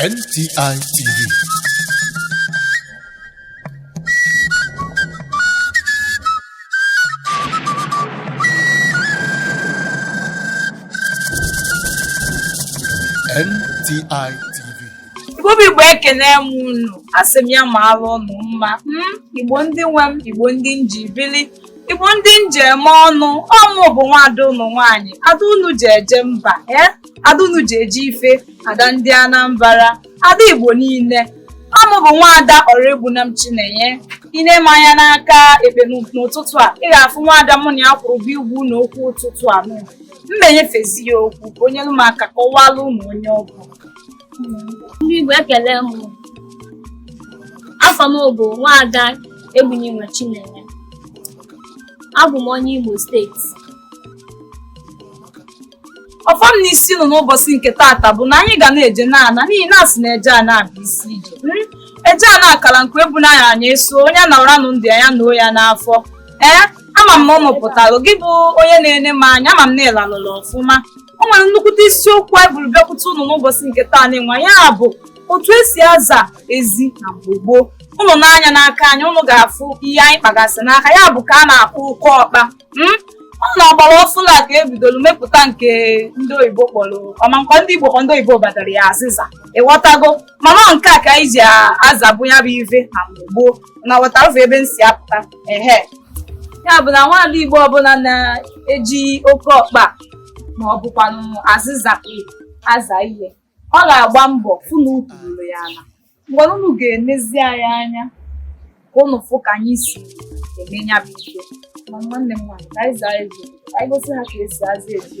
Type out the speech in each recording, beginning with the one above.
NTI TV. NTI TV. Igbo bụ Igbo ekene m unu asị m ya maalụ ụnụ mma m Igbo ndị nwe m Igbo ndị m ji bili Igbo ndị m ji eme ọnụ ọ mụ bụ nwaada ụnụ nwaanyị ada unu ji eje mba e ada unu ji eje ife ada ndị Anambra ada Igbo niile ọ mụ bụ nwaada Oraegbunam Chinenye i nee m anya n'aka ekpe n'ụtụtụ a ị ga-afụ nwaada mụ na ya kwụrụ bụ igwu na okwu ụtụtụ a m menyefezi ya okwu ka o nyere m aka kọwalụ ụnụ onye ọ bụ ndị Igbo ekele m afa m bụ nwaada Egbunenwa Chinenye abụ m onye Imo steeti ọfọ m na isi nọ n'ụbọchị nke taata bụ na anyị ga na-eje na-ana n'ihi na asị na eje ana bụ isi ije hmm? eje ana akara nke e bu n'anya anyị eso onye a na-ara nụ ndụ ya na ọya n'afọ ee eh? ama m na ụnụ pụtara gị bụ onye na-ene m anya ama m na ị lalụla ọfụma o nwere nnukwute isiokwu anyị buru bịakwute ụnụ n'ụbọchị nke taa n'ịnwa ya bụ otu esi aza ezi na mgbe gboo ụnụ nee anya n'aka anyị ụnụ ga-afụ ihe anyị kpagasị n'aka ya bụ ka a na-akpọ ụkọ ọkpa hmm? ọ n'ọgbara ọfụlụ ka e bidoro mepụta nke ndị oyibo kpọrọ ọma nke ndị igbo ndị oyibo badara ya azịza ị ghọtago mana nke a ka anyị ji azabụ ya bụ ive na mgbe gboo na-aghọta ụzọ ebe m si apụta ehe ya bụ na nwaada Igbo ọbụla na-eji oke ọkpa ma ọ bụkwanụ azịza aza ihe ọ ga-agba mbọ fụ na ukwu ruru ya ala mgbe unu ga-enezi anyị anya ka unu fụ ka anyị si eme ya bụ ihe ma nwanne m nwaanyị ka anyị zaa ezi anyị gosi ha ka esi aza ezi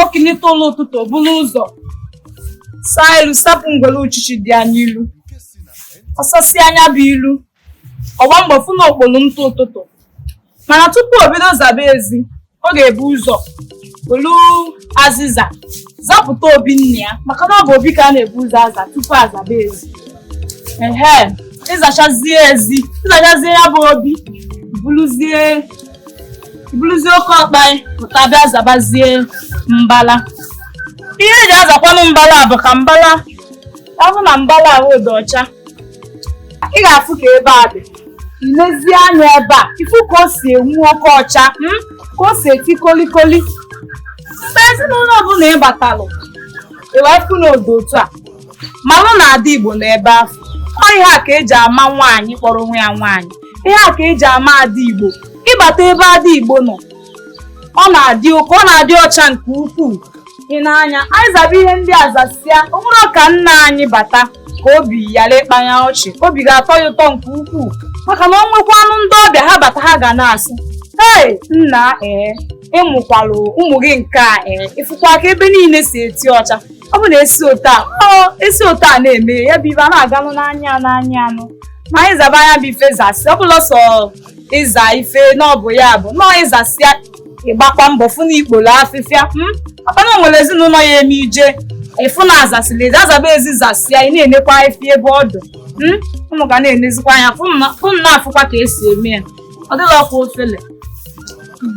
o kunite ụla ụtụtụ o buru ụzọ saa ilu sapụ ngwere uchichi dị ya n'ilu ọ sasịa ya bụ ilu ọ gba mbọ fụ na o kporo ntụ ụtụtụ mana tupu o bido zaba ezi ọ ga-ebu ụzọ welu azịza zapụta obi nne ya maka na ọ bụ obi ka a na-ebu ụzọ aza tupu azaba ezi ehe ị zachazie ezi ị zachazie ya bụ obi buruzie buruzie oke ọkpa gị pụta bịa zabazie mbala ihe eji azakwanụ mbala bụ ka mbala ọ bụ na mbala ahụ dị ọcha ị ga-afụ ka ebe a dị i lezie anya ebe a ị fụ ka o si enwu oke ọcha hmm? ka o si eti kolikoli mgbe ezinụlọ ọbụla ị batalụ ị wee fụ na ọ dị otu a manụ na ada igbo na ebe afụ ọ ihe a ka eji ama nwaanyị kpọrọ onwe ya nwaanyị ihe a ka eji ama ada igbo ịbata ebe ada igbo nọ ọ na-adị oke ọ na-adị ọcha nke ukwuu ị na-anya anyị zaba ihe ndị a zasịa o nwere ọka nna anyị bata ka obi yara ịkpanya ọchị obi ga-atọ ya ụtọ nke ukwuu maka na o nwekwanụ ndị ọbịa ha bata ha ga na-asị ee nna ee ị mụkwalụ ụmụ gị nke a ee ị fụkwa ka ebe niile si eti ọcha ọ bụ na esi otu a ọ esi otu a na-eme ya bụ ibe a na-aganụ n'anya n'anya anụ ma anyị zaba ya bụ ife zasịa ọ bụrọ sọ ịza ife na ọ bụ ya bụ nọọ ị zasịa ị gbakwa mbọ fụ na i kporo afịfịa hmm? maka na e nwere ezinụlọ ya eme i jee ị fụ na a zasịala ezi azaba ezi zasịa ị na-enekwa ife ebe ọ dụ hmm? unu ga na-enezikwa anya fụ na afụkwa ka esi eme ya ọ dịkwa ofele hmm.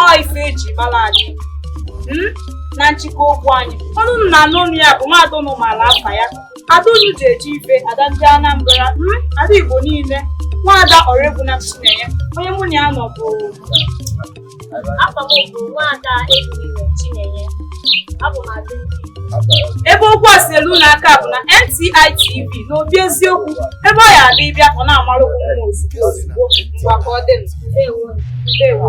ọ ife eji mara anyị hmm? na nchịkọ okwu anyị ọnụ unu na-anụ ọnụ ya bụ nwaada unu maara afa ya ada unu ji eji ife ada ndị Anambra hmm? ada Igbo niile nwaada Oraegbuna Chinenye onye mụ na ya nọ bụ afa m bụ nwaada Ebube Chinenye ebe okwu a si elu unu aka bụ na NTI TV n'obi eziokwu ebe ọ ya adị ịbịa ọ na-amara okwu mma ozugbo ozugbo ngwa ka ọ dị ndewo ndewo